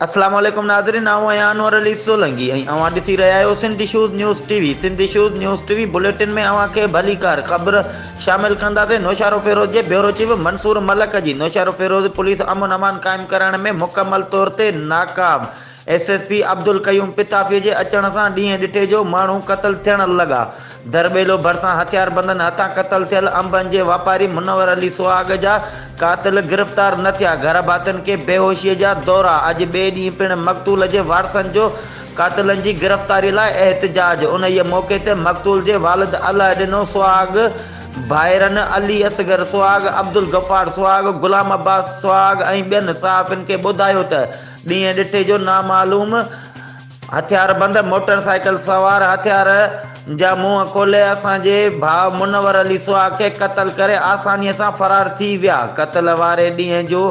السلام عليڪم ناظرين آئون آهيان انور علي سولنگي ۽ اوهان ڏسي رهيا آهيو Sindhi shows news T V Sindhi shows news T V bulletin ۾ اوهان کي ڀليڪار خبر شامل ڪنداسين نوشهروفيروز جي بيورو چيف منصور ملڪ جي نوشهروفيروز پوليس امن امان قائم ڪرائڻ ۾ مڪمل طور تي ناڪام S S P Abdul Qayyum Patafi جي اچڻ سان ڏينهن ڏٺي جو ماڻهو قتل ٿيڻ لڳا. درٻيلو ڀرسان هٿياربندن هٿان قتل ٿيل انبن جي واپاري منور علي سهاڳ جا قاتل گرفتار نه ٿيا. گهر ڀاتين کي بيهوشيء جا دورا، اڄ ٻئي ڏينهن پڻ مقتول جي وارثن جو قاتلن جي گرفتاري لاء احتجاج، انهيء موقعي تي مقتول جي والد علئه ڏنو سهاڳ، ڀائرن علي اصغر سهاڳ، عبدالغفار سهاڳ، غلام عباس سهاڳ ۽ ٻين صحافين کي ٻڌايو ته، ڏينهن ڏٺي جو نامعلوم هٿياربند موٽر سائيڪل سوار هٿيار جا منهن کولي اسان جي ڀاء منور علي سهاڳ کي قتل ڪري آساني سان فرار ٿي ويا. قتل واري ڏينهن جو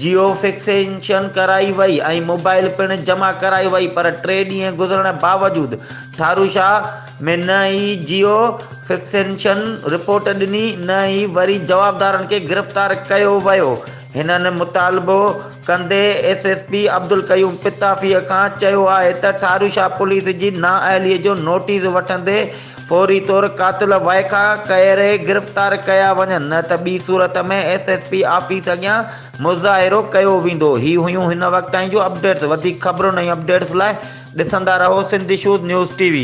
جيو فڪسيشن ڪرائي وئي ۽ موبائل پڻ جمع ڪرائي وئي پر ٽي ڏينهن گذرڻ باوجود ٺاروشاه ۾ نه ئي جيو فڪسيشن رپورٽ ڏني نه ئي وري جوابدارن کي گرفتار ڪيو ويو هنن مطالبو ڪندي ايس ايس پي عبدالقيوم پتافيء کان چيو آهي ته ٺاروشاه پوليس جي نااهليء جو نوٽيس وٺندي فوري طور قاتل وائکا ڪهري گرفتار ڪيا وڃن نه ته ٻي صورت ۾ ايس ايس پي آفيس اڳيان مظاهرو ڪيو ويندو هي هيون هن وقت تائين جون اپڊيٽس وڌيڪ خبرن ۽ اپڊيٽس لاء ڏسندا رهو Sindh issues news T V.